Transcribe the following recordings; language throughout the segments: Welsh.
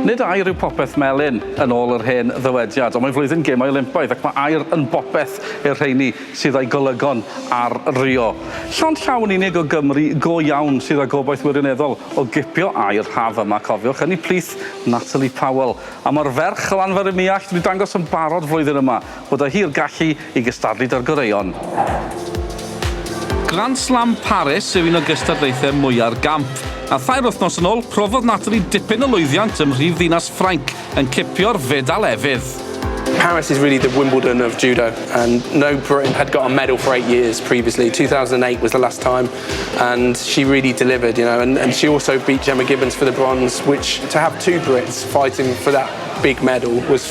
Nid air yw popeth melyn, yn ôl yr hen ddywediad, ond mae flwyddyn gêm Olympaidd ac mae air yn bopeth i'r rheini sydd â'i golygon ar Rio. Llond llaw yn unig o Gymry go iawn sydd â gobaith wirioneddol o gipio air haf yma, cofiwch, ynni plith Natalie Powell. A mae'r ferch o Lanfair-ym-Muallt wedi dangos yn barod flwyddyn yma. Bod o hi'r gallu i gystadlu 'da'r goreuon. Grand Slam Paris yw un o gystadlaethau mwya'r gamp, a thair wythnos yn ôl profodd Natalie dipyn o lwyddiant ym mhrifddinas Ffrainc yn cipio'r fedal efydd. Paris is really the Wimbledon of Judo and no Briton had got a medal for eight years previously, 2008 was the last time and she really delivered you know and, and she also beat Gemma Gibbons for the bronze which to have two Brits fighting for that big medal was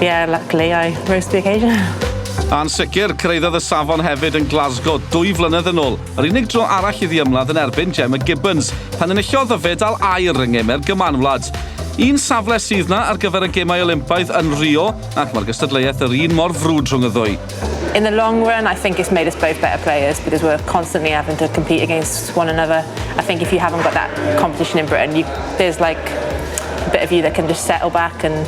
Yeah, luckily I rose to the occasion. A'n sicr, cyrhaeddodd y safon hefyd yn Glasgow dwy flynedd yn ôl, yr unig dro arall iddi ymladd yn erbyn Gemma Gibbons, pan enillodd y fe dal air yng ngemer gymanwlad. Un safle sydd na ar gyfer y gemau Olympaidd yn Rio, ac mae'r gystadleuaeth yr un mor frwd rhwng y ddwy. In the long run, I think it's made us both better players because we're constantly having to compete against one another. I think if you haven't got that competition in Britain, you, there's like a bit of you that can just settle back and